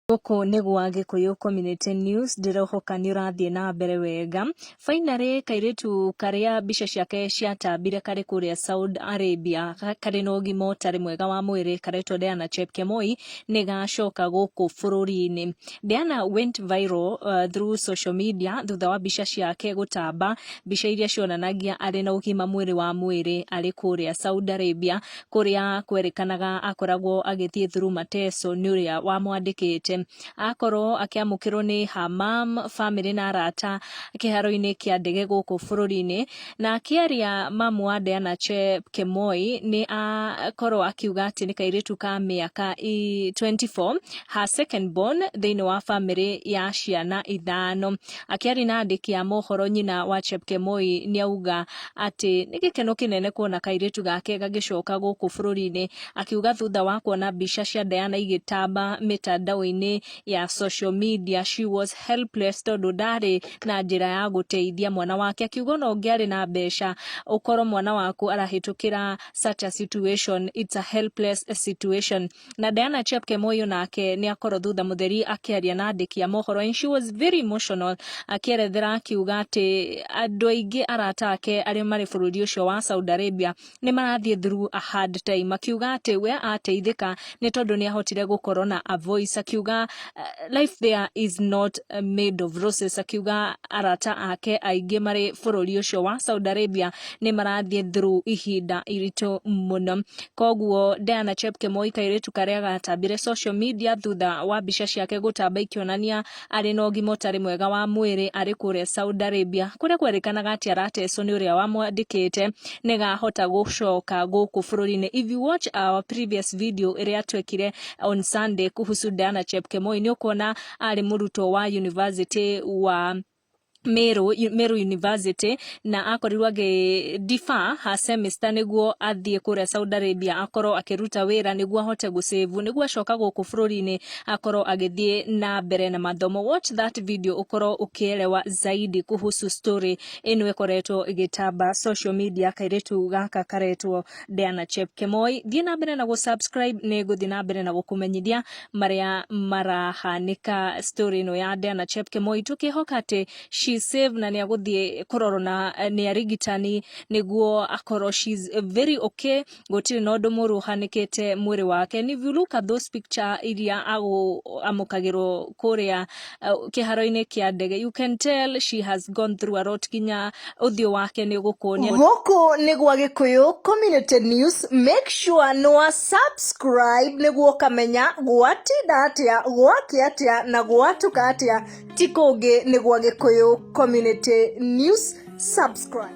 Gũkũ nĩ gwa Gĩkũyũ Community News, ndĩrehoka nĩ ũrathiĩ na mbere wega. Finally, kairĩtu karĩa mbica ciake ciatambire karĩ kũrĩa Saudi Arabia karĩ na ũgima ũtarĩ mwega wa mwĩrĩ karetwo Diana Chepkemoi nĩ gacoka gũkũ bũrũri-inĩ. Diana went viral uh, through social media thutha wa mbica ciake gũtamba, mbica iria cionanagia arĩ na ũgima mwĩrĩ wa mwĩrĩ arĩ kũrĩa Saudi Arabia kũrĩa kwerĩkanaga akoragwo agĩthiĩ through Mateso nĩ ũrĩa wamwandĩkĩte akorwo akĩamũkĩrwo nĩ her mom, family na arata kĩharo-inĩ kĩa ndege gũkũ bũrũri-inĩ na akĩaria mamu wa Diana Chepkemoi nĩ akorwo akiuga atĩ nĩ kairĩtu ka mĩaka i- 24 her second born thĩinĩ wa family ya ciana ithano akĩaria na andĩki a mohoro nyina wa Chepkemoi nĩ auga atĩ nĩ gĩkeno kĩnene kuona kairĩtu gake gagĩcoka gũkũ bũrũri-inĩ akiuga thutha wa kuona mbica cia Diana igĩtamba mĩtandao-inĩ ya social media she was helpless tondũ ndarĩ na njĩra ya gũteithia mwana wake akiuga ona ũngĩarĩ na mbeca ũkorwo mwana waku arahĩtũkĩra such a situation it's a helpless situation na Diana Chepkemoi nake nĩ akorwo thutha mũtheri akĩaria na andĩki a mohoro and she was very emotional akĩerethera akiuga atĩ andũ aingĩ arata ake arĩa marĩ bũrũri ũcio wa Saudi Arabia nĩ marathiĩ through a hard time akiuga atĩ we ateithĩka nĩ tondũ nĩ ahotire gũkorwo na a voice akiuga uh, life there is not uh, made of roses akiuga arata ake aingĩ marĩ bũrũri ũcio wa Saudi Arabia nĩ marathiĩ through ihinda iritũ mũno koguo Diana Chepkemoi kairĩtu karĩa gatambire social media thutha wa mbica ciake gũtamba ikĩonania arĩ na ũgima ũtarĩ mwega wa mwĩrĩ arĩ kũrĩa Saudi Arabia kũrĩa kwerĩkanaga atĩ aratecwo nĩ ũrĩa wamwandĩkĩte nĩ gahota gũcoka gũkũ bũrũri-inĩ if you watch our previous video ĩrĩa twekire on Sunday kuhusu Diana Chepkemoi nĩ ũkuona arĩ mũrutwo wa university wa Meru, Meru University na akorirwo agĩ defer her semester nĩguo athiĩ kũrĩa Saudi Arabia akorwo akĩruta wĩra nĩguo ahote gũcĩvu nĩguo acoka gũkũ bũrũri-inĩ akorwo agĩthiĩ na mbere na mathomo watch that video ũkorwo ũkĩerewa zaidi kuhusu story ĩno ĩkoretwo ĩgĩtamba social media kairĩtu gaka karetwo Diana Chepkemoi thiĩ na mbere na gũ subscribe nĩ ngũthiĩ na mbere na gũkũmenyithia marĩa marahanĩka story ĩno ya Diana Chepkemoi tũkĩhoka atĩ she save na nĩagũthiĩ kũrorwo na nĩ arigitani nĩguo akorwo she's very okay gũtirĩ na ũndũ mũru ũhanĩkĩte mwĩrĩ wake and if you look at those picture iria agũ amũkagĩrwo kũrĩa uh, kĩharo-inĩ kĩa ndege you can tell she has gone through a lot nginya ũthiũ wake nĩ ũgũkuonia gũkũ nĩ gwa gĩkũyũ community news make sure nĩ wa subscribe nĩguo ũkamenya gwatinda atĩa gwake atĩa na gwatuka atĩa ti kũngĩ nĩ gwa gĩkũyũ community news subscribe